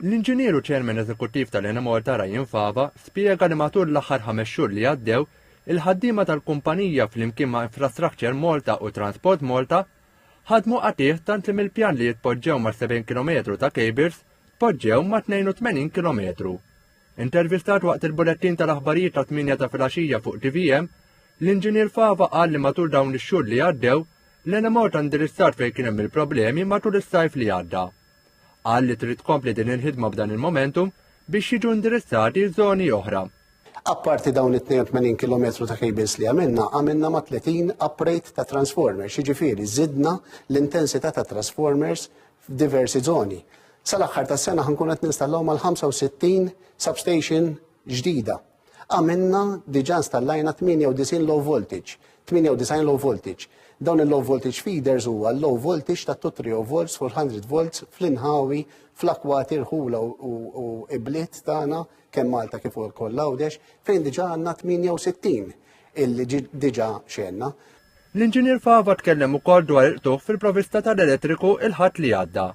L-Inġinier u Chairman Eżekuttiv tal-Enemalta Ryan Fava spjega li matul l-aħħar ħames xhur li għaddew, il-ħaddiema tal-kumpanija flimkien ma' Infrastructure Malta u Transport Malta ħadmu qatigħ tant li mill-pjan li jitpoġġew ma' 70 kilometru ta' kejbils tpoġġew ma' 82 kilometru. Intervistat waqt il-bulettin tal-aħbarijiet ta' 8 ta' filgħaxija fuq TVM, l-Inġinier Fava qal li matul dawn ix-xhur li għaddew, l-Enemalta indirizzat fejn kien hemm il-problemi matul is-sajf li għadda. Qal li trid tkompli din il-ħidma f'dan il-momentum biex jiġu indirizzati żoni oħra. Apparti dawn it-82 km ta' cables li għamilna, għamilna ma' 30 uprate ta' transformers, jiġifieri żidna l-intensità ta' transformers f'diversi zoni. Sal-aħħar tas-sena ħankun qed ninstallaw mal-65 substation ġdida Għamilna diġà installajna 98 low voltage, 98 low voltage. Dawn il-low voltage feeders huwa l-low voltage ta' 230 volts full 100 volts fl-inħawi, fl-akwati, rħula u ibliet tagħna kemm Malta kif ukoll l-Għawdex fejn diġà għandna 68 illi diġà xenna. L-Inġinier Fava tkellem ukoll dwar il-qtugħ fil-provista tal-elettriku il-ħadd li għadda.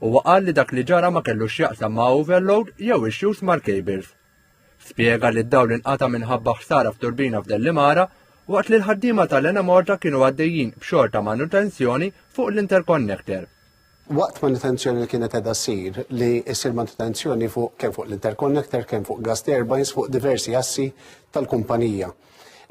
Huwa qal li dak li ġara ma kellux x'jaqsam ma' overload jew issues mal-cables. Spjega li d-dawl inqata' minħabba ħsara f'turbina f'Dellimara waqt li l-ħaddiema tal-Enemalta kienu għaddejjin b'xogħol ta' manutenzjoni fuq l-interconnector. Waqt manutenzjoni li kienet qiegħda ssir li ssir manutenzjoni fuq kemm fuq l-interconnector, kemm fuq gas turbines, fuq diversi assi tal-kumpanija.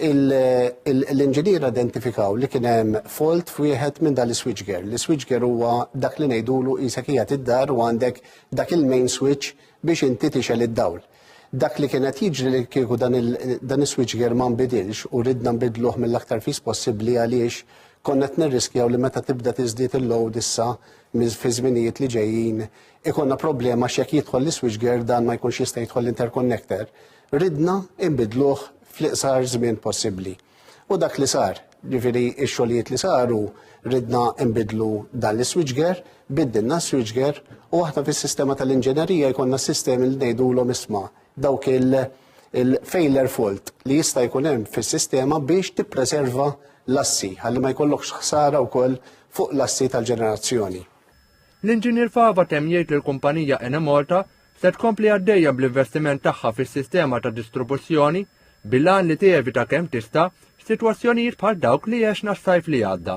L-inġiniera identifikaw li kien hemm fault f'wieħed minn dan is-switchgear. L-switchgear huwa dak li ngħidulu qisek qiegħed id-dar u għandek dak il-main switch biex inti tixgħel id-dawl. Dak li kien qed jiġri li kieku dan is-switchgear ma nbidilx u ridna nbiddluh mill-aktar fis possibbli għaliex konna qed nirriskjaw li meta tibda tiżdied il-load issa fiż-żminijiet li ġejjin ikollna problema għax jekk jidħol l-switchgear dan ma jkunx jista' jidħol l-interconnector. Ridna nbiddluh fl-iqsar żmien possibbli. U dak li sar, ġifieri x-xogħlijiet li saru ridna nbidlu dan l-iswiċger, biddilna s-switchgear u aħna fis-sistema tal-inġenerija jkollna s-sistemi li ngħidulhom isma' dawk il-failure fault li jista' jkun hemm fis-sistema biex tippreserva l-assi ħalli ma jkollokx ħsara wkoll fuq l-assi tal-ġenerazzjoni. L-Inġinier Fava temm jgħid li l-kumpanija Enemalta se tkompli għaddejja bl-investiment tagħha fis-sistema ta' distribuzzjoni bil-għan li tevita kemm tista' sitwazzjonijiet bħal dawk li għexna s-sajf li għadda.